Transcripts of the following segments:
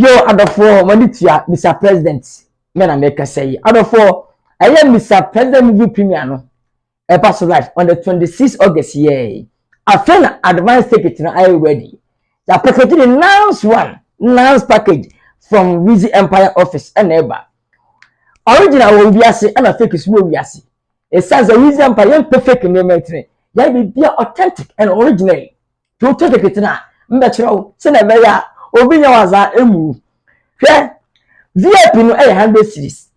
Yo adɔfoɔ mo ani tua Mister President me na mekasa yi adɔfoɔ ɛyɛ Mister President movie premier no ɛba so live on the 26 August yɛɛ afei na advance ticket no ayɛ ready ya package ne nans one nans package from Wizzy Empire office ɛna ɛba original wɔ wiase ɛna fake so wɔ wiase ɛsiane sɛ Wizzy Empire yɛmpɛ fake nneɛma ntini yɛn biribi a authentic and original To ketekete no a, mbɛkyerɛ wo sɛnea ɛbɛyɛ a obi nyɛ w'adze a emu wu. Hwɛ, VIP no yɛ hundred cedis,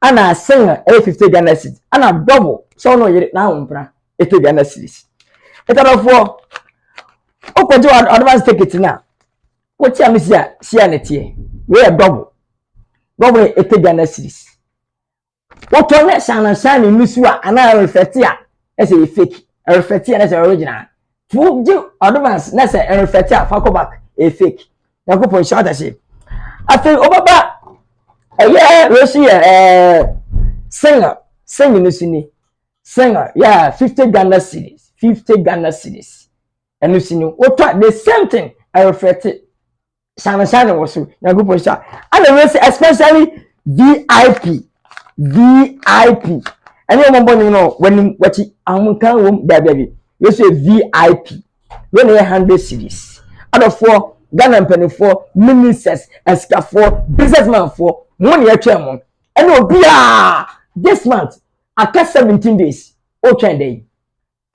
ana single yɛ fifty Ghana cedis, ana double sɛ wo na wo yer n'ahompra eighty Ghana cedis. Etadɔfoɔ, wokɔgye w'advance ticket no a, wote ame si a, si a na ɛteɛ. Wei yɛ double. Double yɛ eighty Ghana cedis. Wotɔ na ɛhyɛ anansan ne nusu a anaa ɛrefɛte a na sɛ ɛyɛ fake, ɛrefɛte a na sɛ original. To gye advance na sɛ ɛrefɛte a fa kɔ back ɛyɛ fake. Nyankopɔn hyɛ ɔda se. Afei wobɛba ɛyɛ wei so yɛ ɛɛ single single no so ni single yɛ fifty Ghana cedis fifty Ghana cedis ɛno so ni wotɔ the same thing ɛrefɛte. sansan na wɔ so nyankopɔn hyɛ ɛna wei sɛ especially vip vip ɛne wɔn bɔ nim no wɔnim wɔkyi ahokan wɔm daabiabi wei sɛ vip wei na yɛ hundred series adɔfoɔ ghana mpanimfoɔ ministers asikafoɔ businessmanfoɔ mo na yɛtwɛn mo ɛna obiara this month aka seventeen days ɔtwɛn dɛ yi.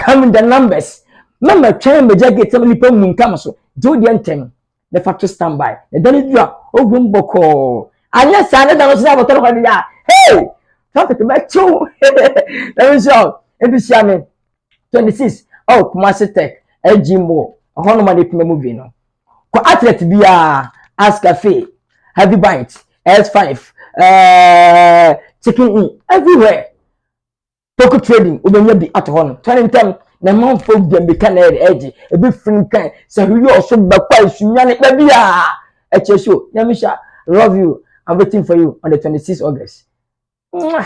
Come the numbers. Mama twɛn magya gate ma nipa mu ntam so. Gye wodeɛ ntɛm. Bɛfa to stand by. Na da no dura, ɔgu mu bɔkɔɔ. Anyɛ saa ne da no so na abɔtɔ no hɔ de yɛ a, hey! Traffic mɛkyew. Na me nhyɛ o. Ebi hyia me. 26. Oh, Kumasi Tech, AG Mall. Ɛhɔ nom a na epima movie no. Kɔ athlete biara, Ask Cafe, Heavy Bite, S5, uh, Chicken Inn, everywhere. Toku trading wobɛnya bi ato hɔ no tɔne ntɛm na ɛma wo fam dwa mmirika na ɛde ɛgye ebi firi nkan sɛ hweyɛ ɔso bɛkɔ a esu nyane baabi a ɛkyɛ so nyame hyɛ love you i'm waiting for you on the 26 august Mwah!